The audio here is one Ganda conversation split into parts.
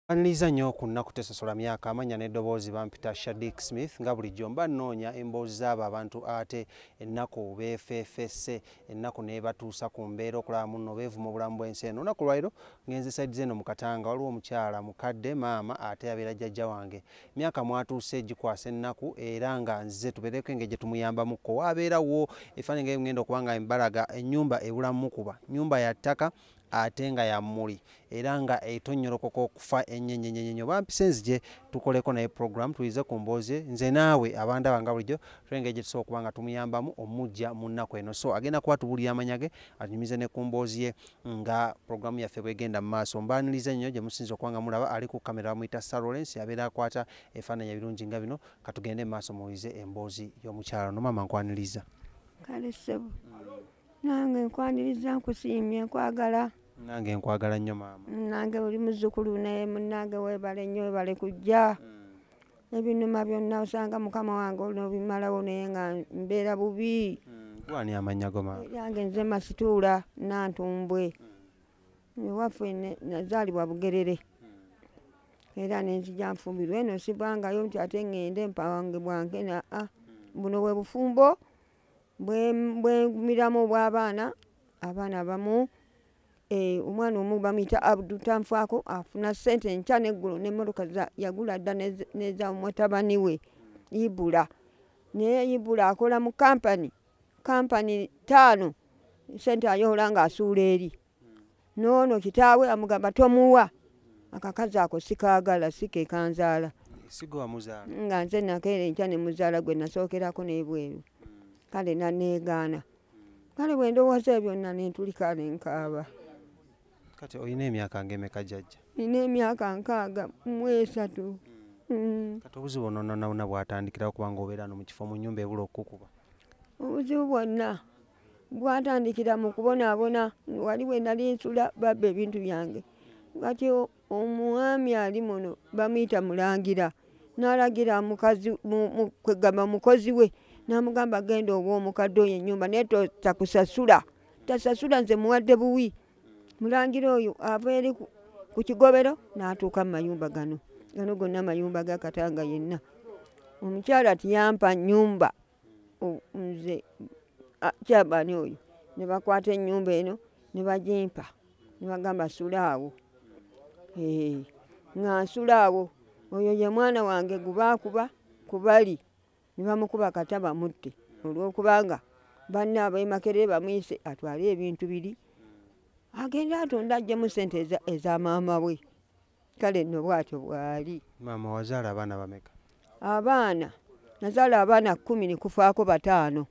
Anliza nnyo ku nnaku tesosola myaka amanya n'eddoboozi bampita Shadik Smith nga bulijjo mba nnoonya emboozi z'abo abantu ate ennaku beefeefesse ennaku n'ebatuusa ku mbeera okulaba munno beevuma obulamu bw'ensi eno olunaku lwaliro ngenze saidi z'eno mu Katanga waliwo omukyala mukadde maama ate abeera jjajja wange myaka mwatuuse gikwasa ennaku era nga nzize tubeereko engeri gye tumuyambamukko waabeerawo efaananyi nga ngenda okuba nga embalaga ennyumba ebulamu mukuba nnyumba ya ttaka ate nga ya mmuli era nga etonnyolokoka okufa ennyo ennyo ennyo ennyo bampise nzije tukoleko naye puroguramu tuyize ku mboozi nze naawe abandaba nga bulijjo twengeri gye tusobola okuba nga tumuyambamu omujja mu nnaku eno so agenda kuba tubulira amanya ge anyumize ne ku mboozi ye nga puroguramu yaffe bwegenda mu maaso mbaaniriza nnyo gye musinza okuba nga mulaba ali ku kamera bamuyita sarolence abeera akwata efaananya ebirungi nga bino katugende mu maaso muwulize emboozi y'omukyalo no maama nkwaniriza kale ssebo nange nkwaniriza nkusiimye nkwagala nange nkwagala nnyo maama nange oli muzzukulu naye munange webale nnyo webale kujja hmm. ebinuma byonna osanga mukama wange olnobimalawo naye nga mbeera bubi hmm. wani amanya go maama yange nze masituula nantumbwe hmm. ewaffe nazaalibwa bugerere era nenzija nfumbirwa eno sivangayo nti ate ŋŋende mpawange bwange naa ah, buno bwe bufumbo bwemiramu obwabaana abaana abamu eh, omwana omu bamuyita abdu tanfaako afuna sente enkya neggulo nemotoka yagula dda neza mutabani we ibula naye ibula akola mu kampani kampani taano sente ayoola nga asuula eri noono kitaawe amugamba tomuwa akakazi ako sikaagala sikekanzaala nga nze nakeera enkya ne muzaala gwe nasookerako n'ebweru kale naneegaana kale bwe ndowooza ebyo na nentulika ne nkaaba kati olina emyaka ngaemeka jajja nina emyaka nkaaga mu esatu mm. kati obuzibu ononanawona bwatandikirawo kubanga obeera no mu kifo mu nyumba ebula okukukuba obuzibu bwonna gwatandikira mu kubonaabona wali we nali nsula babba ebintu byange kati omwami ali muno bamuyita mulangira n'alagira mukazi kwegamba mukozi we n'amugamba genda oba omukadde oyo ennyumba naye takusasula tasasula nze muwadde buwi mulangira oyo ava eri ku kigobero n'atuuka mu mayumba gano gano gonna amayumba gakatanga yenna omukyala tiyampa nyumba nze kyabani oyo ne bakwata ennyumba eno ne bagimpa ne bagamba sula awo eh, nga nsula awo oyo ye mwana wange gubaakuba ku bali ne bamukuba kata bamutte olw'okubanga banne abemakerere bamuyise atwale ebintu biri agende atonde ajjemu sente eza maama we kale nno bwatyo bwali maama wazaala abaana bameka abaana nazaala abaana kumi nikufaako bataano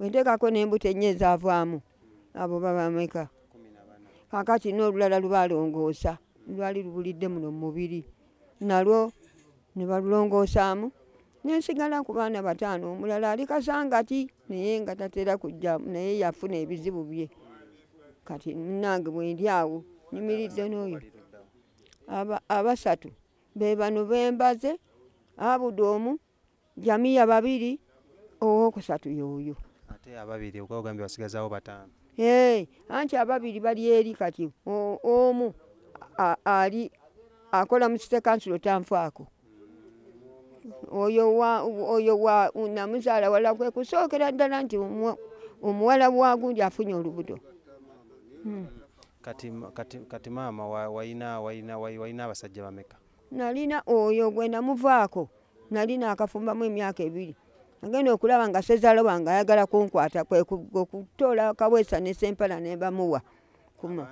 wenteekako n'embuto ennyo ezaavaamu abo babameka kakati n'olulala lubalongoosa lwali lubulidde muno mu mubiri nalwo ne balulongoosaamu nensigala ku baana bataano omulala ali kasangati naye nga tatera kujja naye yafuna ebizibu bye kati munange bwendi awo nyimiridde n'oyo abasatu be bano bembaze abudu omu jamiya babiri owokusatu yoyo ate ababiri okwogambye basigazawo bataano ee anti ababiri bali eri kati omu ali akola mu site kansulo tanfaako oyo wa oyo wa namuzaala wala kwe kusookera ddala nti omuwala wagundi afunye olubuto hmm. kati kati kati maama wayina wayina wayina abasajja bameka nalina oyo gwe namuvaako nalina akafumbamu emyaka ebiri agenda okulaba nga sezaala wange ayagala kunkwata kwekutoola kaweesa ne sempala nembamuwa kuma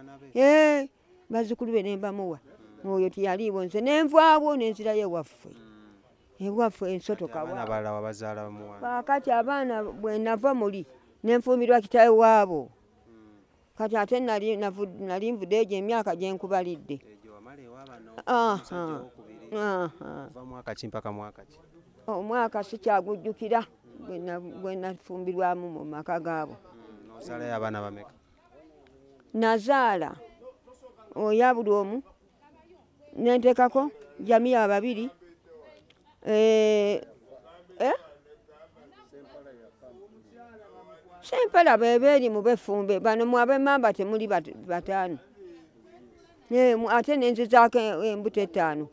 bazzukulu be ne mbamuwa mwoyo tiyaliiwo nze ne nvaawo ne nzirayo ewaffe mm. ewaffe ensotokaakati abaana bwe nava muli ne nfumbirwa kitawe waabo mm. kati ate nali nvude egyo emyaka gye nkubalidde omwaka oh, sikyagujjukira gwe nafumbirwamu mu maka gaabo mm, nazaala oya buli omu nentekako jamiya babiri eh, eh? sempala bebeeri mu befumbe bano mwabemamba temuli bataano eh, ate nenzizaako embuto etaano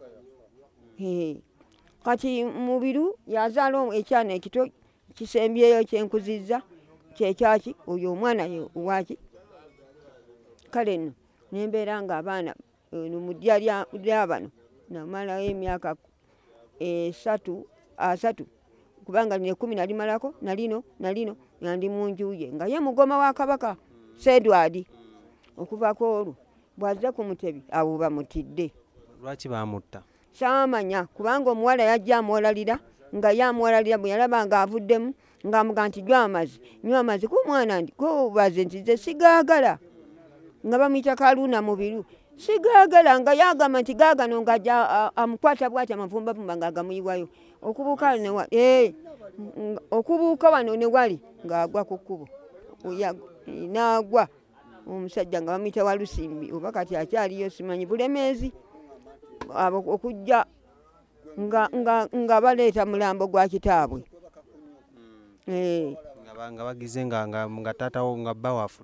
kati mubiru yazaala ekyana ekito kisembyeyo kyenkuzizza kyekyaki oyo omwana waki kale no nembeera nga abaana no mudya lyabano namalayo emyaka esatu asatu kubanga lino ekumi nalimalako nalino nalino nandi munjuye nga ye mugoma wa kabaka sedwadi okuvako olwo bwazze ku mutebi awo bamutidde lwaki bamutta kyamanya kubanga omuwala yajja amuwalalira nga ye amuwalalira bwe yalaba nga avuddemu ng'amuga nti jwa amazi nywa amazi ku mwana ndi kubaze nti ze sigaagala nga bamuyita kaluuna mubiru sigaagala nga yagamba nti gaagano nga amukwata bwati amavumbavumba nga agamuyiwayo okubuuka newa eh, okubuuka wano ne wali ng'agwa ku kkubo nagwa omusajja nga bamuyita walusimbi oba kati akyaliyo simanyi bulemeezi abo okujja nga baleeta mulambo gwa kitaabwe hmm. eh. nga bagize nga taatawo nga bba wafu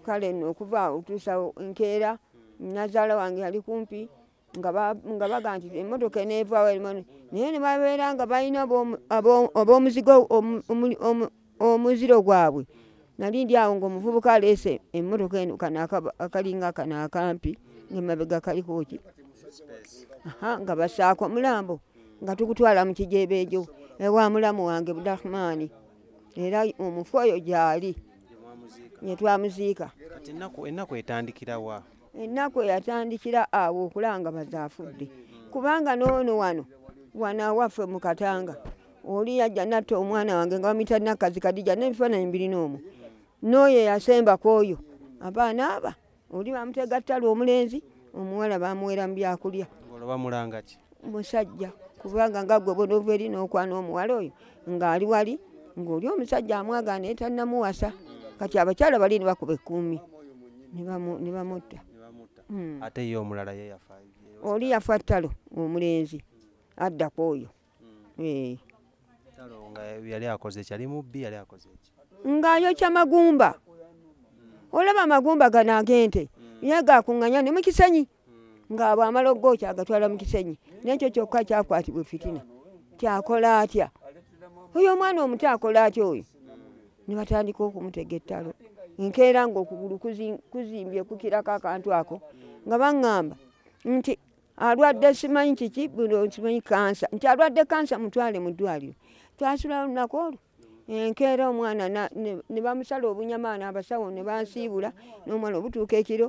kale no okuva otuusawo nkeera nazaala wange ali kumpi nga baga nti emotoka enevawo erimo naye nebabeera nga balina abomuzigo omuziro gwabwe nali ndi awo ngaomuvubuka aleese emotoka eno kano akalinga kano akampi ngemabega kalikoki nga basaako omulambo nga tukutwala mu kijebeejo ewa mulamu wange budahmaani era omufu oyo gyali netwamuziika ennaku etandikirawa ennaku eyatandikira awo okulanga bazaafudde kubanga noono wano wano awaffe mu katanga oli yajja natta omwana wange nga bamuyita nakkazi kadija n'ebifaananyi mbirina omu n'oyo eyasemba ku oyo abaana aba oli bamutegattala omulenzi omuwala bamuwera mu byakulya musajja kubanga nga gwe bona ova eri n'okwana omuwala oyo ng'ali wali ng'oli omusajja amwagala naye tannamuwasa kati abakyala bali ne bakuba ekkuumi ne bamutta hmm. ate ye omulala ye yafa oli yafa ttalo omulenzi addako oyo hmm. eh. ng'ayokya magumba olaba amagumba gano agente hmm. ye gakuŋŋanya ne mu kisanyi nga bwamala okugookya agatwala mu kisenyi nekyo kyokka kyakwatibwa efitina kyakola atya oyo omwana omuto akola atya oyo ne batandika okumutega ettalo nkeera ngaokugulu kuzimbye kukirako akantu ako nga baŋŋamba nti alwadde simanyi kiki simanyi kansa nti alwadde kansa mutwale mu ddwaliro twasula lunaku olwo enkeera omwana ne bamusala obunyama naabasawo ne bansiibula n'omwana obutuuka ekiro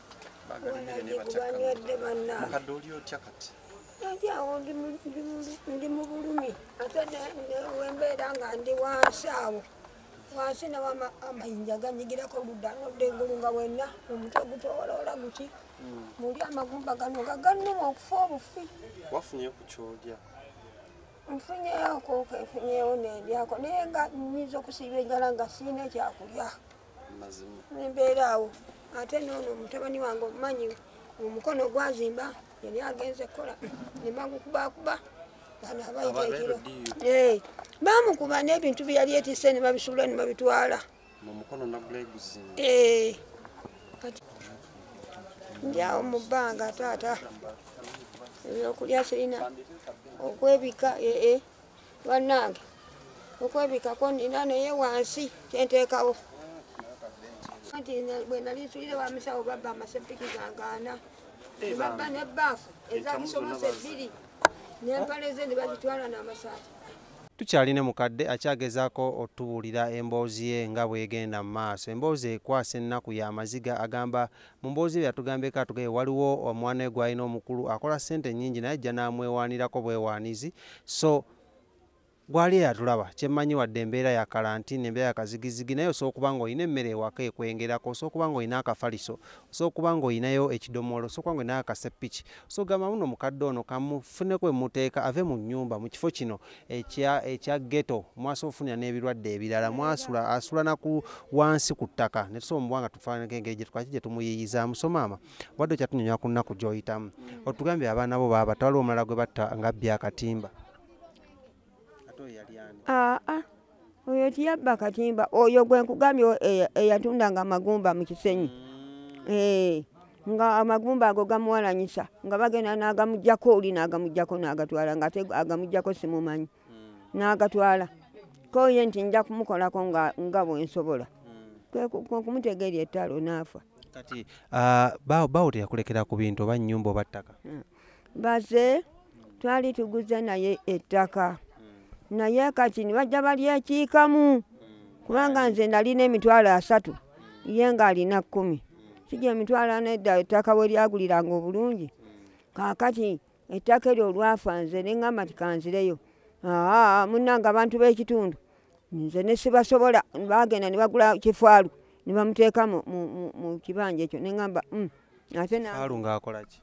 mukadde oli otya kati ajawo ndi mu bulumi ate wembeera nga ndi wansi awo wansi nawo amayinja ganyigirako ludda nodda engulu nga wenna omutwe gutowoloola guti hmm. muli amagumba gano nga gannuma okufa obufi wafunye ku kyolya nfunyeyoko nfunyewo nendyako naye nga nyinza okusiiba enjala nga siina ekyakulya nembeera awo ate noono omutabani wange omumanyi omukono gwazimba yali agenze kukola nemagukubakuba bamukuba nebintu byeyali etise nebabisuula nebabitwala ndyawo mu bbanga taata ebyokulya sirina okwebika ee eh, eh. bannange okwebikako nina naye wansi kyenteekawo nti bwe nali nsuyire wa musawo babba amasepiki gangaana nebabba ne baafu ezakisomose ebbiri nempale ze ne bazitwala n'amasaati tukyali ne mukadde akyagezaako otubuulira emboozi ye nga bwegenda mu maaso emboozi ekwasa ennaku y'amaziga agamba Mu mboozi bye yatugambyeko atugambye waliwo omwana we gw'alina omukulu akola ssente nnyingi naye ajja n'amwewaanirako bwewaanizi so gwali eyatulaba kyemmanyi wadde embeera ya kalantini embeera ya kazigizigi naye osobola okuba nga olina emmere ewaka ekwengerako osobola okuba nga olina akafaliso osobola okuba nga olinayo ekidomoolo osobola okuba nga olina akaseppiki osobola okugamba muno omukadde ono kamufuneko emuteeka ave mu nnyumba mu kifo kino ekya ekya ghetto mwaso ofunira n'ebirwadde ebirala mwasula asula na ku wansi ku ttaka ne tusobola mubwanga tufaanako engeri gye twaki gye tumuyiyiza musomaama wadde kya tunyonyola ku nnaku gy'oyitamu mm. otugambye abaana bo baaba twaliwo omulala gwe batta nga bya katimba ate oyo yali ani aa ah, ah. oyo tiyabba katimba oyo gwe nkugambye eyatundanga e, e, amagumba mu kisenyi mm. eh, nga amagumba ago gamuwalanyisa nga bagenda n'agamugjako oli n'agamugjako n'agatwala nga ate agamugjako simumanyi mm. n'agatwala koye nti nja kumukolako nga bwensobola mm. kwekumutega eri ettalo n'afa kati ah, bawo teyakulekera ku bintu oba nnyumba oba ttaka hmm. baze twali tuguze naye ettaka naye kati nibajja balyekiikamu kubanga nze nalina emitwalo asatu ye ng'alina kkumi kija emitwalo anedda ettaka we lyaguliranga obulungi kaakati ettaka eryo olwafa nze ne ŋŋamba nti kanzireyo aa munnanga abantu b'ekitundu nze ne sibasobola baagenda ne bagula kifaalu ne bamuteeka mu kibanja ekyo ne ŋŋamba mm, ate ng'akola ki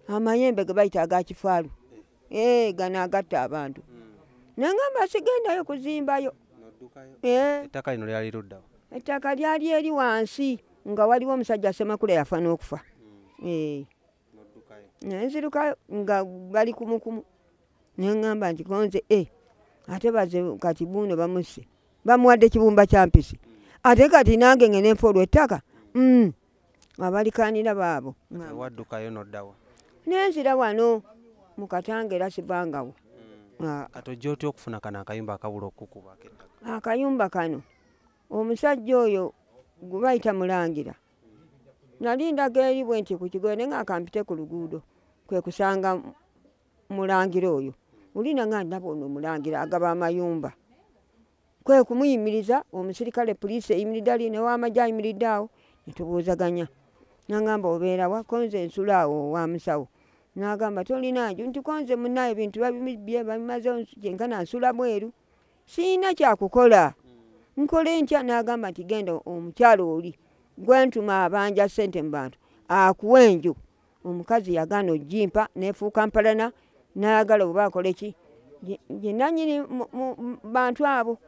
amayembe gebayita agakifaalu eh, eh, gano agatta abantu hmm. nangamba sigendayo kuzimbayo eh. ettaka lino lyali luddawo ettaka lyali eri wansi nga waliwo omusajja semakula yafa n'okufa hmm. nenzirukayo nga bali kumukumu nengamba nti konze e ate baze kati buuno bamusse bamuwadde kibumba kyampisi hmm. ate kati nange ngenenfa olwettaka abalikaanira baabo waddukayo noddawa nenzira wano mu katanga era sibangawo hmm. ah. kati ojja otya okufuna kano akayumba akabula okukuba akayumba kano omusajja oyo gwe bayita mulangira nali ndaga eri bwe nti ku kigoyo ne ngaakampite ku luguudo kwe kusanga mulangira oyo ulina nga ndaba ono mulangira agaba amayumba kwe kumuyimiriza omusirikale poliisi eyimiridde ali newamagye ayimiridde awo netubuuzaganya nangamba obeerawa konze ensula awo wa musawo nagamba tolina nju nti konze munaye ebintu babimibye babimaze kyenkana nsula bweru siyina kyakukola hmm. nkole ntya nagamba nti genda omukyalo oli gwentuma abanja sente mu bantu akuwa enju omukazi yagaana ojimpa nefuuka mpalana nayagala oba akoleki yenanyini bantu abo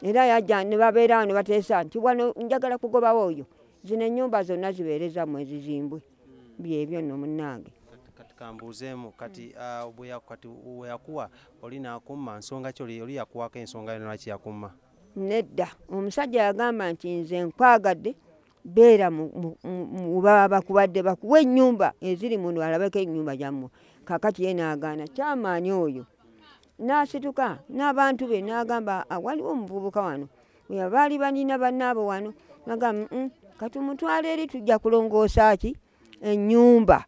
era yaja nebabeera wano bateesa nti wano njagala kugobawo oyo zino enyumba zonna zibeereza mu ezizimbwe byebyo no munange kambuuzeemu kati ah, kati weyakuwa oli nakumma nsonga ki oli yakuwako ensonga yona lwaki yakumma nedda omusajja yagamba nti nze nkwagadde beera mubaba bakubadde bakuwa enyumba eziri muno alabeko enyumba gyammwe kakati ye naagaana kyamaani oyo naasituka n'abantu be naagamba ah, waliwo omuvubuka wano baali banyina bannaabo wano nagamba mm, katumutwala eri tujja kulongoosa ki enyumba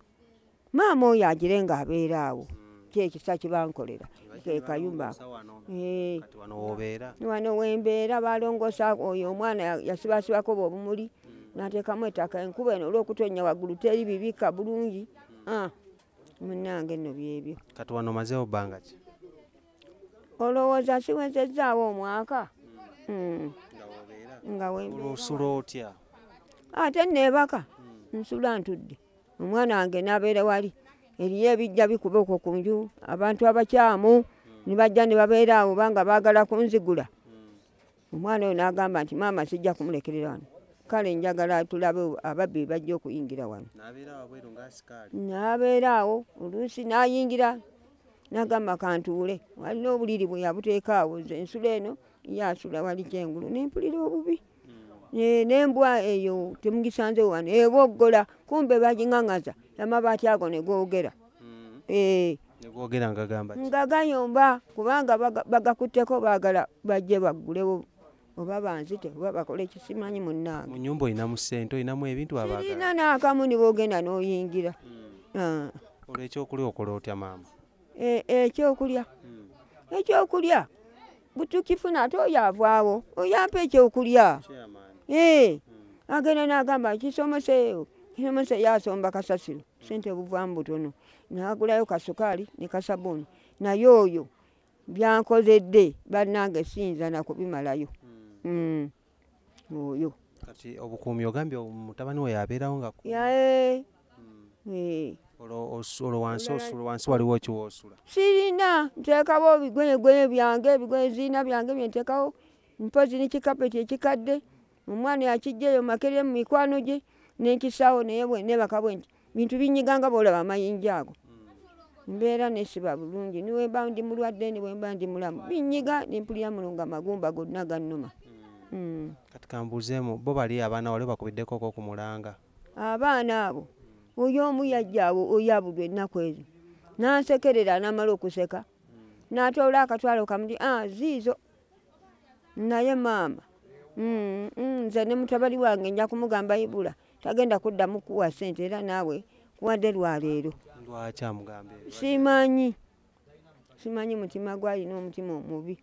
maama oyo agire nga abeera awo kyekisa kyebankolera kekayumba eh. wano wembeera balongosa oyo omwana yasibasibako bobumuli natekamu etaka enkuba eno olwokutonya waggulu teri bibika bulungi ah, munange no byebyo kati wano mazewo bbanga ki olowooza siwezezaawo omwaka hmm. nga wembeera otya ate nebaka hmm. nsula ntudde omwana wange nabeera wali eriyo ebijja bikuba okwo ku nju abantu abakyamu nibajja nibabeera awo banga baagala kunzigula omwana oyo nagamba nti maama sijja kumulekerera wano kale njagala tulabe ababbi bajja okuyingira wano nabeera awo oluusi nayingira nagamba kantuule walina obuliri bwe yabuteeka awo nze ensula eno yasula wali kyengulu nempulira obubi nembwa eyo temugisanze wano eboggola kumbe bagingangaza amabaati ago negogera hmm. eh. negogera ngagamba nga gayomba kubanga bagakutteko bagala bajje baggulewo oba banzite oba bakole kisimanyi munange munyumba olinamu sente olinamu ebintu abaina nakamu nibogenda noyingira hmm. ah. olwekyokulya okola otya maama eh, ekyokulya hmm. ekyokulya butukifuna ate oyo avaawo oyo ampa ekyokulya eh, hmm. agenda nagamba kisomoseyo kisomose yasomba kasasiro sente buvamu butono nagulayo kasukaali ne kasabuni naye oyo byankozedde bannange siyinza nakubimalayo hmm. Hmm. oyo kati obukuumi ogambye mutabani we yabeerawo nga yae hmm. eh. olwo wansi osula wansi waliwo kiwoosula sirina nteekawo ebigoyegoye byange ebigoye zirina byange byenteekawo mpozi ne kikapeti ekikadde omwana yakijjaeyo makeremu mikwano gye nenkisaawo naye nebakabwe nti bintu binyiga nga bwolaba amayinja ago hmm. mbeera nesiba bulungi niwemba ndi mulwadde niwemba ndi mulamu binyiga nempulira mulunga magumba gonna gannuma hmm. hmm. kati kambuuzemu bo bali abaana wali bakubiddeko ko ku mulanga abaana abo oyo omu yajja awo oyabudwa ennaku ezo nansekerera namala okuseka natoola akatwalo kamuti ah, ziizo naye maama nze ne mutabali wange nja kumugamba ibula tagenda kuddamu kuwa sente era naawe kuwadde lwaleero simanyi simanyi mutima gwalina omutima omubi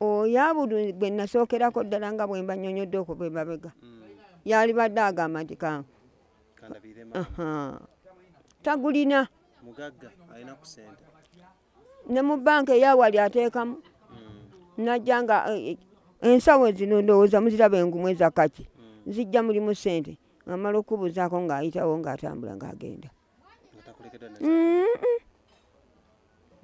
oyabudu gwe nasookerako ddala nga bwe mbanyonyodde okuva emabega hmm. yalibadde agamba nti ka tagulina ne mu banka eyawali ateekamu hmm. najja nga eh, eh, ensawo zino ndowooza muziraba engumu eza kaki hmm. zijja mulimu sente ngamala okubuuzaako ng'ayitawo ng'atambula ng'agenda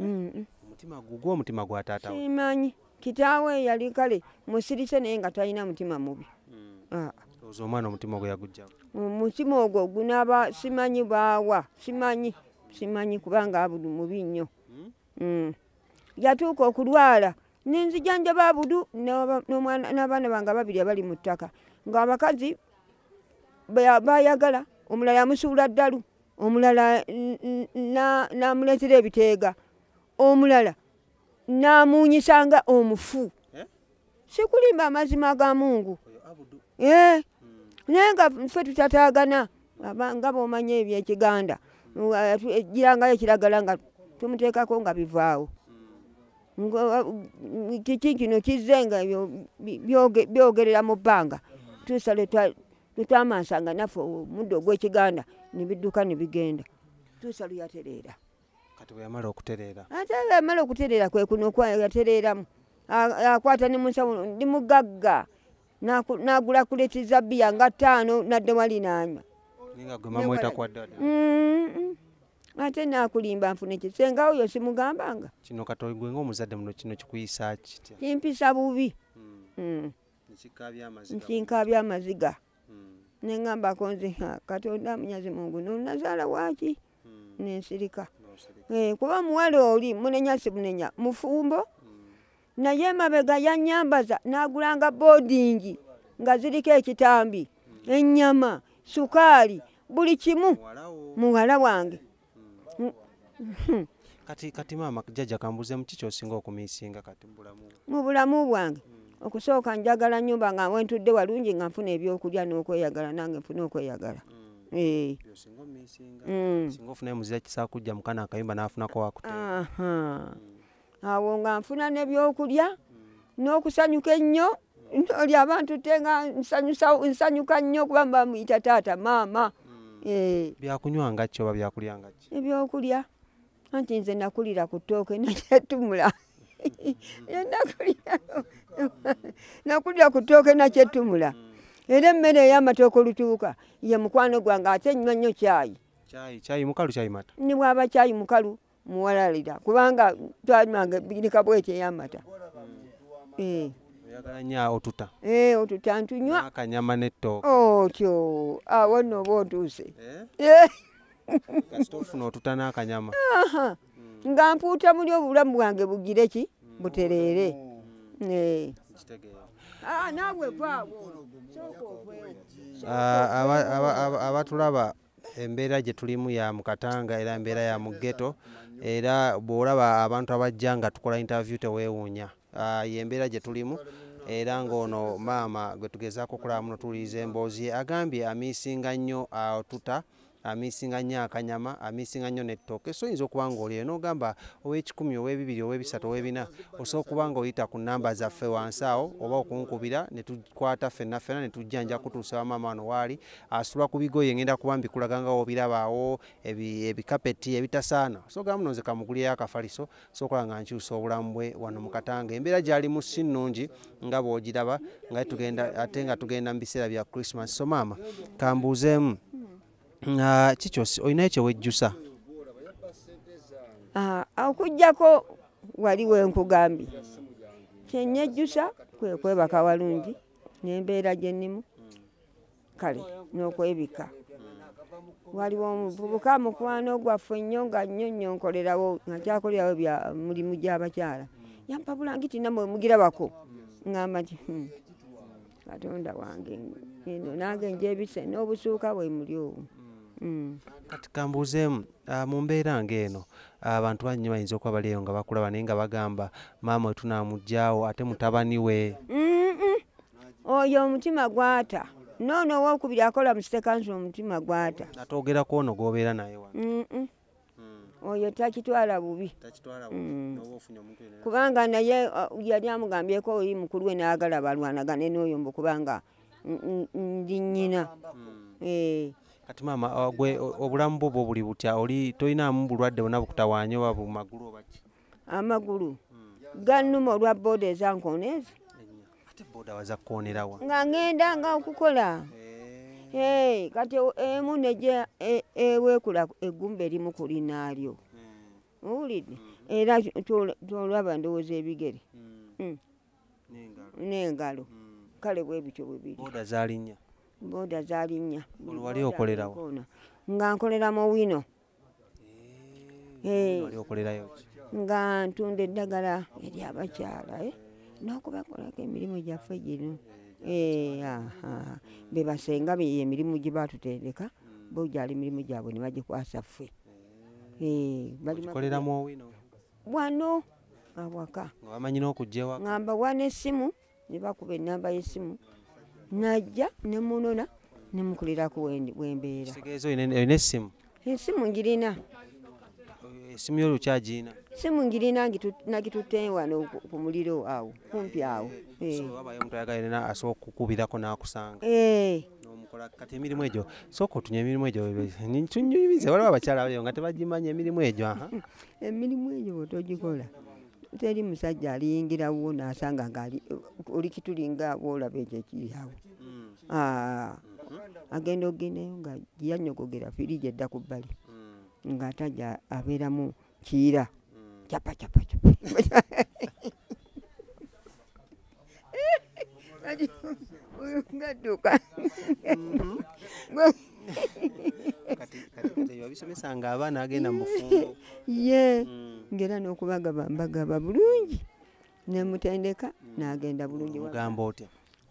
omutima gugwo omutima gwa taata simanyi kitaawe yali kale musirise naye nga talina mutima mubi ah. oza omwana omutima ogwo yagujjamu omutima ogwo gunaba simanyi baawa simanyi simanyi kubanga abudu mubi nnyo hmm? Hmm. yatuuka okulwala nenzijanjaba abudu n'abaana bange ababiri abali mu ttaka ng'abakazi bayagala omulala yamusuula ddalu omulala namuleetera ebiteega omulala namunyisa nga omufu eh? sikulimba amazima ga mungu eh? hmm. naye nga fe tutatagana nga bomanya ebyekiganda ejirangayo ekiragala nga tumuteekako nga bivaawo hmm. kiki kino kizze nga byogerera mu bbanga tuusa lwetwamansanga naffe omuddo ogwekiganda nebidduka nebigenda tuusa luyatereera kati bweyamala okutereera ate bweyamala okutereera kwekuno yatereeramu akwata ne munsawo ndi mugagga nagula kuleti za bbiya nga ttaano nadde wali nanywa ate nakulimba nfune ki senga oyo simugambanga kino katoyi gwe ngaomuzadde muno kino kikuyisa kitya kimpisa bubi hmm. Hmm. nkinkabya amaziga hmm. nengambako nze katonda munyazi mungu nonazaala waki hmm. nensirika eh, kuba muwala oli munenya simunenya mufumbo hmm. naye emabega yanyambaza nagulanga bodingi nga ziriko ekitambi hmm. enyama sukaali buli kimu muwala wange kati kati maama jajja kambuze muki kyosinga okumisinga kati mubulamu mu bulamu bwange hmm. okusooka njagala nyumba nga wentudde walungi nga nfuna ebyokulya n'okweyagala nange nfuna okweyagala hmm. Eh. Mm. singa ofunayo muzira kisakujja mukana akayumba nafunako wakute mm. awo nga nfuna nebyokulya mm. n'okusanyuka ennyo oli abantu te nga nsanyuka nnyo kuba mba muyita taata maama eh. byakunywa ngakki oba byakulya ngakki ebyokulya anti nze nakulira ku ttooke nakyetumula nakulira ku ttooke nakyetumula era emmere ey'amatooke olutuuka ye mukwano gwange ate nywa nnyo kyayi kyayi mukalu kyayi mata ni bwaba kyayi mukalu muwalalira kubanga twanywanga birika bwekyo ey'amata eh. oyagala nnyo otuta eh, otuta ntunywa akanyama n'ettooke otyo awo nno oba otuuse eh? kasitofuna otutana akanyama nga mpuuta muli obulamu bwange bugire ki butereere mm. eh. ah, ah, abatulaba embeera gye tulimu ya mukatanga era embeera ya mugeto era bw'olaba abantu abajja nga tukola interview teweewuunya ah, yembeera gye tulimu era ng'ono maama gwe tugezaako okulaba muno tuwuliriza emboozi ye agambye amiisinga nnyo atuta amisinga nnyo akanyama amisinga nnyo nettooke so oyinza okuba nga olyeyo n'ogamba ow'ekikumi ow'ebibiri ow'ebisatu ow'ebina osobola okuba nga oyita ku namba zaffe wansi awo oba okunkubira ne tukwata ffenna ffena ne tujja nja kutuusa wamaama wano waali asula ku bigoye ngenda kuba mbikulaga nga wobirabaawo ebikapeti ebitasaana so gamba nonze kamugulireyo akafaliso sokola nga nkyusa obulamu bwe wano mu katanga embeera gyalimu si nnungi nga bwogiraba nga tugenda ate nga tugenda mu biseera bya christmas so maama kambuuzeemu ah, kikyosi olinayo kyewejjusa ah, okujjako wali wenkugambye kyenyejjusa kwekwebaka walungi nembeera gyennimu kale n'okwebika waliwo omuvubuka mukwano gwaffe nnyo nga nnyo nnyo nkolerawo akyakolerawo bya mulimu gy'abakyala yampabula ngiti namwe mugirabako ngamba nti hmm, katonda wange eno nange njebise n'obusuuka bwe muli owo hmm. kati kambuuzeemu ah, mu mbeera ng'eno ah, abantu banyinyi bayinza okuba bali eyo nga bakulaba naye nga bagamba maama wetunamugyawo ate mutabani we oyo omutima gwata noono owokubiri akola mu sitekansi omutima gwata atogera kwono gwobeera naye hmm. oyo takitwala bubi hmm. kubanga naye uh, yali amugambyeko oyi mukulu we naagala balwanagane nooyo mbu kubanga ndi nyina hmm. eh. kati maama uh, gwe obulamu bwo bwo buli butya oli tolinamu bulwadde bona bukutawanya oba bumagulu obaki amagulu gannuma olwa booda ezankoona ezo nga ngenda nga okukola eh. kati emu neja e, ewekula eggumba erimu ku linaalyo hmm. owulidde hmm. era tolaba ndowooza ebigere hmm. n'engalo kale bwe bityo bwe biri booda zalinnya booda zalinnya nga nkolera mu wino Eh, nga ntunda eddagala eri abakyala eh, n'okubakolako emirimu gyaffe gino eh, bebasenga beyo emirimu gye batutendeka bo gyali emirimu gyabwe ne bagikwasa ffe wano awaka ngamba wana essimu ne bakuba ennamba y'essimu najja ne munona ne mukulirako wembeera kitegeeza olina essimu ensimu ngirina esimu eh, yolukyagirina simu ngirina nagitutte wano ku muliro awo kumpi awo eh. asobola okukubirako nakusanga eh. kati emirimu egyo sooka otunya emirimu egyo tunyumize waliwo abakyala balio nga tebagimanyi emirimu egyo emirimu egyo bwetogikola teri musajja aliyingira wo nasanga nga oli kitulinga wolaba ekyo ekiriawo mm. ah. agenda ogendayo nga yanyogogera firiji edda ku bbali mm. nga ataja abeeramu kiira mm. capacapacapa uyu ngaduka kati kati kati biba bisomesa nga abaana agenda mu bufumbo ye Mm. ngera n'okubagaba mbagaba bulungi nemutendeka n'agenda bulungi waka. mugamba otya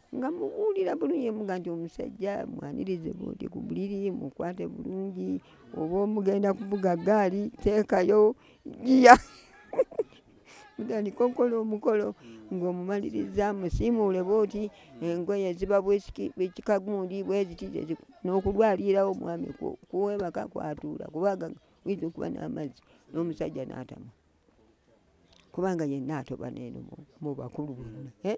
nga mubuulira bulungi muga nti omusajja mwanirize bwoti ku buliri mukwate bulungi oba omugenda kuvuga gaali teekayo giya mutandika okukola omukolo ng'omumaliriza musiimuule bwoti engoye ziba bwekikagundi bweziti n'okulwalirawo omwami kuwebaka kwatuula kubaga oyinza okuba n'amazzi n'omusajja n'atama kubanga yenna atoba neeno mu bakulu bonna eh?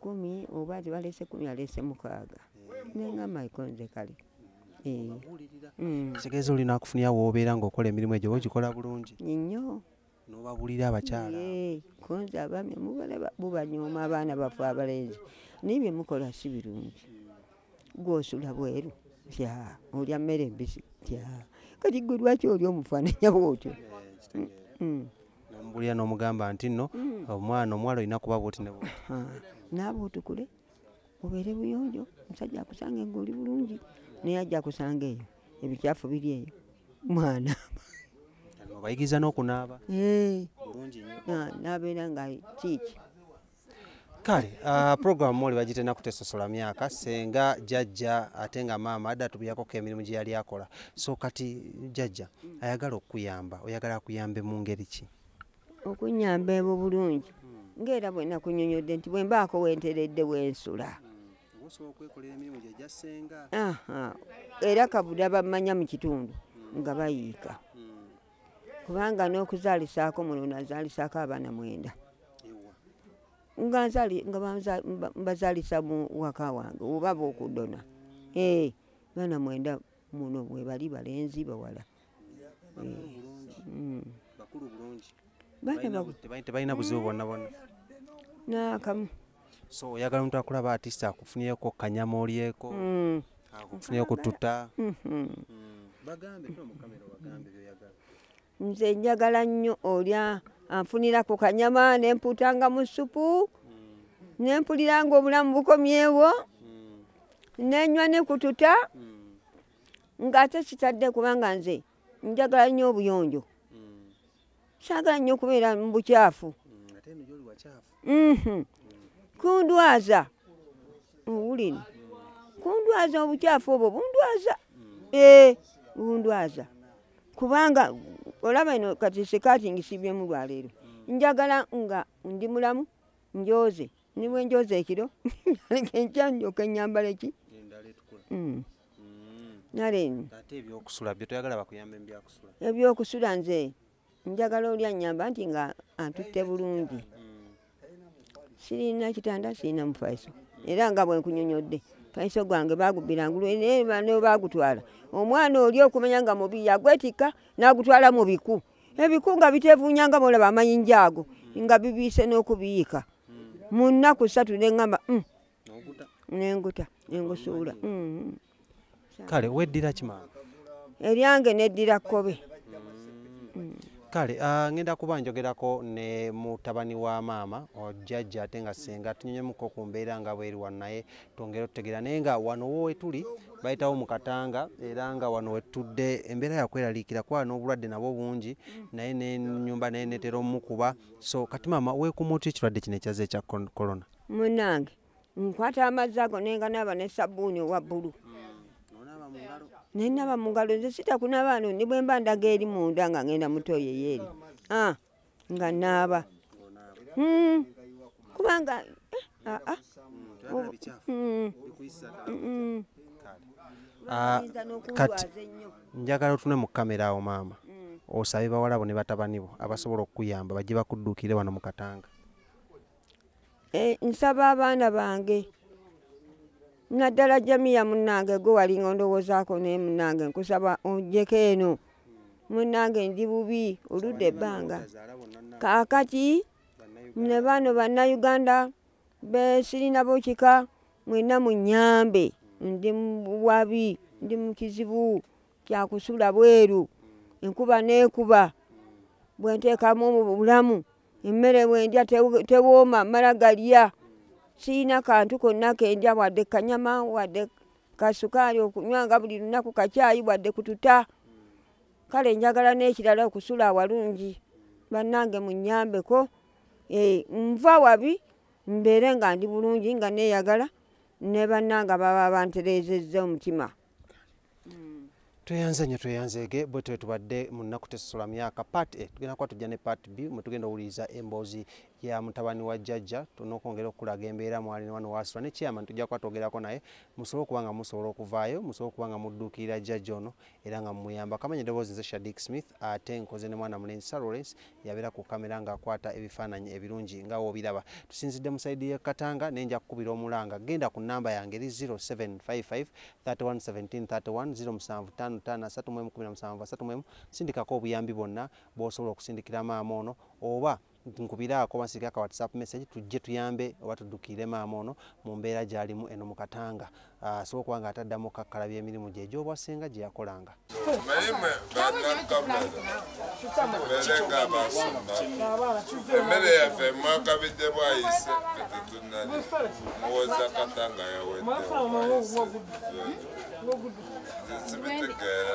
kumi oba balese kumi alese mukaaga nengamba ikonze kale eh. mm. kitegeeza olina akufunira woobeera ngaokola emirimu egyo ogikola bulungi nyo nobabulira abakyala eh, konze abami mubala bubanyooma abaana bafe abalenzi naye byemukola si birungi gwosula bweru tya olya mmere embisi tya kati gwe lwaki oli omufaananya bwotyo eh, mm. nomubulira nomugamba nti no mm. omwana omuwala olina kuba bwoti ne naaba otukule obeere buyonjo omusajja akusanga nga oli bulungi naye ajja kusanga eyo ebikyafu biri eyo mwana obayigiriza n'okunaaba eh. bulungi nyo ah, nabeera nga kiiki kale uh, programu oli bagitena kutesosola myaka senga jajja ate nga maama adda tubyakoko emirimu gye yali akola so kati jajja ayagala okukuyamba oyagala akuyambe mu ngeri ki okunyamba ebo bulungi ngaera bwena kunyonyodde nti bwembaako wenteredde wensula era kabuda bamanya mu kitundu nga bayiika kubanga n'okuzaalisaako muno nazaalisaako abaana mwenda nga mbazaalisa mu waka wange oba bookudona ee eh, baana mwenda muno bwebali balenzi bawala tebalina buzibu bwonna bwonna naakamu so oyagala omuntu akulaba artist akufunireko kanyama olyeko mm. akufunire kututa mm-hmm. mm. nze njagala nnyo olya anfunira ku kanyama nempuutanga mu supu mm. nempulira nga obulamu bukomyewo nenywa nekututa nga ate kitadde kubanga nze njagala nnyo obuyonjo mm. saagala nnyo okubeera mu bukyafu mm, mhm. kundwaza owulire kundwaza obukyafu obwo bundwaza mm. ee eh, bundwaza kubanga olaba ino kati sekaati ngisibyemu lwaleero njagala nga ndi mulamu njoze ni bwe njoza ekiro enkya ndyoka enyambala eki hmm. Hmm. ebyokusula nze njagala oli anyamba nti nga antutte bulungi hmm. sirina kitanda sirina mufaiso era nga bwenkunyonyodde faiso gwange bagubbira ngulu nebagutwala omwana oli okumenya nga mubi yagwetikka nagutwala mu biku ebikunga bitevunya nga bolaba amayinja ago nga bibiise n'okubiyiika mu nnaku ssatu ne ŋŋamba mm, nenguta nengusuula mm. kale weddira kimanga eryange neddira kkobe mm. kale ah, ngenda kuba njogerako ne mutabani wa maama jajja ate nga senga tunyonyemuko ku mbeera nga bweri wano naye twongere otutegeera naye nga wano wowetuli bayitawo mu katanga era nga wano wetudde embeera yakweraliikira kuba n'obulwadde nabwo bungi naye nenyumba naye netera omukuba so kati maama wekuuma otya ekirwadde kino ekyaze ekya corona munange nkwata amazzi ago nenganaaba ne sabbuuni owa bbulu nenaba mungalo nze sitakunabaano ni bwemba ndaga eri munda nga ngenda mutoyo yeeri ah. nga naaba hmm. kubanga eh, ah, ah. Hmm. Hmm. Ah, kati njagala otune mu kamera awo maama osabe bawalabo ne batabani bo abasobola okukuyamba bajje bakuddukire wano mu katanga Eh, nsaba abaana bange naddala jamiya munange gwe walinga ondowoozaako naye munange nkusaba onjeko eno munange ndi bubi oludde ebbanga kaakati ne bano bannayuganda besirina bokika mwena munyambe ndi muwabi ndi mu kizibu kyakusula bweru enkuba neekuba bwenteekamu obulamu emmere bwendya tewooma mala galya siyina kantu konna kendya wadde kanyama wadde kasukaali okunywa nga buli lunaku kakyayi wadde kututa kale njagala n'ekirala okusula awalungi bannange munyambeko eh, nva wabi mbeere nga ndi bulungi nga neeyagala ne bannange baba bantereezezza omutima mm. tweyanze nyo tweyanzeege bwe twe tubadde mu nnaku tesosola myaka part a tugenda kuba tujja ne part b mwe tugenda owuliriza emboozi ya mutabani wa jjajja tunokwongera okukulaga embeera mwali ne wano wasula ne chairman tujja kuba twogerako naye musobole okuba nga musobola okuvaayo musobole okuba nga mudduukirira jjajja ono era nga mumuyamba kamanya eddoboozi nze shadik smith ate nkoze ne mwana mulenzi sir lawrence yabeera ku kamera ng'akwata ebifaananyi ebirungi nga w'obiraba tusinzidde mu sayidi y'e katanga naye nja kukubira omulanga genda ku nnamba yange eri 0755 311753 sindikako obuyambi bwonna bw'osobola okusindikira maama ono oba nkubiraako basiike aka whatsapp message tujje tuyambe oba tuddukiire maama ono mu mbeera gy'alimu eno mu katanga asobola okuba nga ataddamu okukakkalaba emirimu gye egy'obwa ssenga gye yakolanga emmere yaffe mwakabidde bwayise etetunali muwoza kata nga yawedde zibitegeera